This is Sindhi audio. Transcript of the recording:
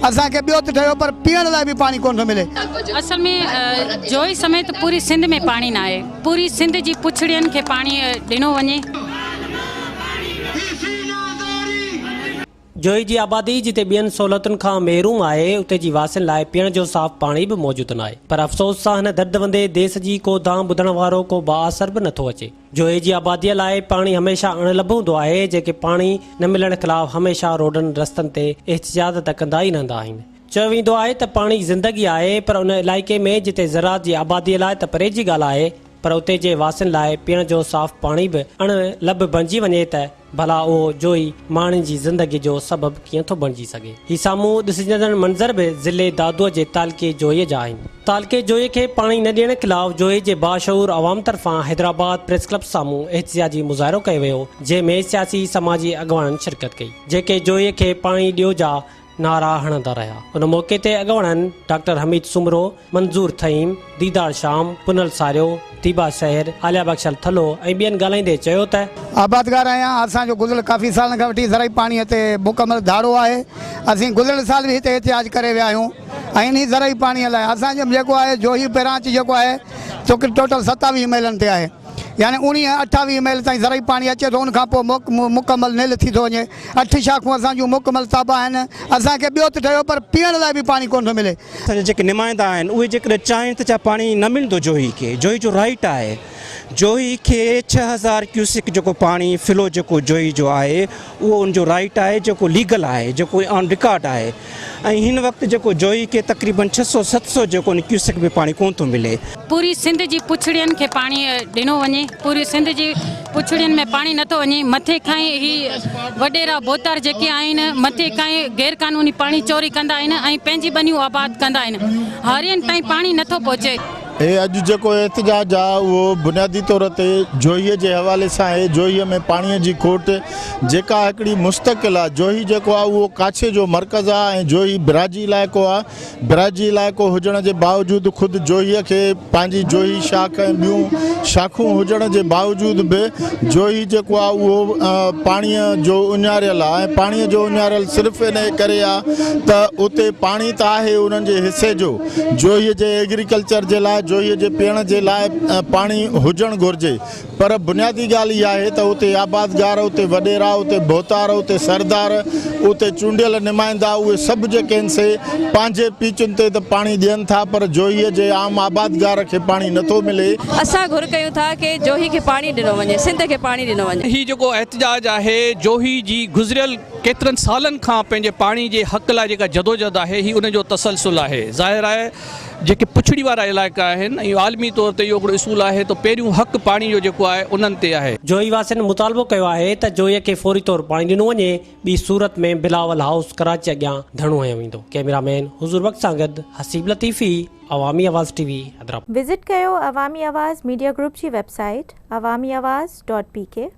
اسان کي ٻيو ته ٺهيو پر پيئڻ لاء به پاڻي ڪونه ٿو ملي. اصل ۾ جوئي سميت پوري سنڌ ۾ پاڻي ناهي. پوري سنڌ جي پڇڙين کي پاڻي ڏنو وڃي. جوئي جي آبادي جتي ٻين سهولتن کان محروم آهي اتي جي واسين لاء پيئڻ جو صاف پاڻي به موجود ناهي پر افسوس سان هن درد وندي ديس جي ڪو دانهن ٻڌڻ وارو ڪو بااثر به نٿو اچي. جوئي جي آباديء لاء پاڻي هميشه اڻ لڀ هوندو آهي، جيڪي پاڻي نه ملڻ خلاف هميشه روڊن رستن تي احتجاج ته ڪندا ئي رهندا آهن. چيو ويندو آهي ته پاڻي زندگي آهي پر ان علائقي ۾ جتي زراعت جي آباديء لاء ته پري جي ڳالهه آهي پر اتي جي واسين لاء پيئڻ جو صاف پاڻي به اڻ لڀ بڻجي وڃي ته ڀلا اهو جوئي ماڻهن جي زندگي جو سبب ڪيئن ٿو بڻجي سگهي. هي سامهون ڏسجندڙ منظر به ضلعي دادوء جي تعلقي جوئي جا آهن. تعلقي جوئي کي پاڻي نه ڏيڻ خلاف جوئي جي باشعور عوام طرفان حيدرآباد پريس ڪلب سامهون احتجاجي مظاهرو ڪيو ويو جنهن ۾ سياسي سماجي اڳواڻن شرڪت ڪئي جيڪي جوئي کي پاڻي ڏيو جا نعرا هڻندا رهيا. ان موقعي تي اڳوڻن ڊاڪٽر حميد سومرو، منظور ٿهيم، ديدار شام، پنهل ساريو، ديبا شهر، عاليه بخشل ٿلهو ۽ ٻين ڳالهائيندي چيو ته. آبادگار آهيان، اسان جو گذريل ڪافي سالن کان وٺي زرعي پاڻي تي مڪمل ڌاڙو آهي، اسين گذريل سال به هتي احتجاج ڪري ويا آهيون ۽ انهي زرعي پاڻي لاء اسان جي جيڪو آهي جوهي برانچ جيڪو آهي سو ٽوٽل ستاويهه ميلن تي آهي. يعني اوڻيهه اٺاويهه ميل تائين زرعي پاڻي اچي ٿو ان کان پوء موڪ مڪمل نيل ٿي ٿو وڃي اٺ شاخون اسان جون مڪمل تابع آهن اسان کي ٻيو ته ٺهيو پر پيئڻ لاء به پاڻي ڪونه ٿو ملي. اسان جا جيڪي نمائندا آهن اهي جيڪڏهن چاهين ته ڇا پاڻي نه ملندو جوهي کي جوهي جو رائيٽ آهي جوهي کي ڇهه هزار ڪيوسڪ جيڪو پاڻي فلو جيڪو جوهي جو آهي اهو ان جو رائيٽ آهي جيڪو ليگل آهي جيڪو آن رڪارڊ آهي ۽ هن وقت جيڪو جوئي کي تقريبن ڇهه سؤ ست سؤ جيڪو نه ڪيوسڪ به پاڻي ڪونه ٿو ملي. پوري سنڌ جي پڇڙين کي پاڻي ڏنو وڃي پوري سنڌ جي پڇڙين ۾ پاڻي نٿو وڃي مٿي کان ئي هي وڏيرا ڀوتار جيڪي آهن مٿي کان ئي غير قانوني پاڻي چوري ڪندا آهن ۽ پنهنجي ٻنيون آباد ڪندا آهن هارين تائين پاڻي نٿو پهچي. هي اڄ جيڪو احتجاج آهي اهو بنيادي طور تي جوهي جي حوالي سان آهي، جوهي ۾ پاڻي جي کوٽ جيڪا هڪڙي مستقل آهي، جوهي جيڪو آهي اهو ڪاڇي جو مرڪز آهي ۽ جوهي براجي علائقو آهي، براجي علائقو هجڻ جي باوجود خود جوهي کي پنهنجي جوهي شاخ ۽ ٻيون شاخون هجڻ جي باوجود به جوهي جيڪو آهي اهو پاڻي جو اڃاريل آهي ۽ پاڻي جو اڃاريل صرف انهي ڪري آهي ته اتي پاڻي ته آهي انهن جي حصي جو جوهي جي ايگريڪلچر جي لاء جوهي جي پيئڻ جي لاء پاڻي هجڻ گهرجي پر بنيادي ڳالهه اها آهي ته اتي آبادگار، اتي وڏيرا، اتي ڀوتار، اتي سردار، اتي چونڊيل نمائندا اهي سڀ جيڪي آهن سي پنهنجي پيچن تي ته پاڻي ڏين ٿا پر جوهي جي عام آبادگار کي پاڻي نه ٿو ملي. اسان گهر ڪيون ٿا ڪي جوهي کي پاڻي ڏنو وڃي، سنڌ کي پاڻي ڏنو وڃي. هي جيڪو احتجاج آهي جوهي جي گذريل ڪيترن سالن کان پنهنجي پاڻي جي حق لاء جيڪا جدوجھد آهي هي ان جو تسلسل آهي. ظاهر آهي جيڪي پڇڙي وارا علائقا آهن ۽ عالمي طور تي اهو هڪڙو اصول آهي ته پهريون حق پاڻي جو جيڪو آهي انهن تي آهي. جوهي واسين مطالبو ڪيو آهي ته جوهي کي فوري طور پاڻي ڏنو وڃي ٻي صورت ۾ بلاول هائوس ڪراچي اڳيان ڌرڻو هنيو ويندو ڪئميرا مين حضور بخش سان گڏ Haseeb Latifi Awami Awaz T V Hyderabad. Visit ڪيو عوامي آواز ميڊيا گروپ جي web site Awami Awaz dot P ڪي.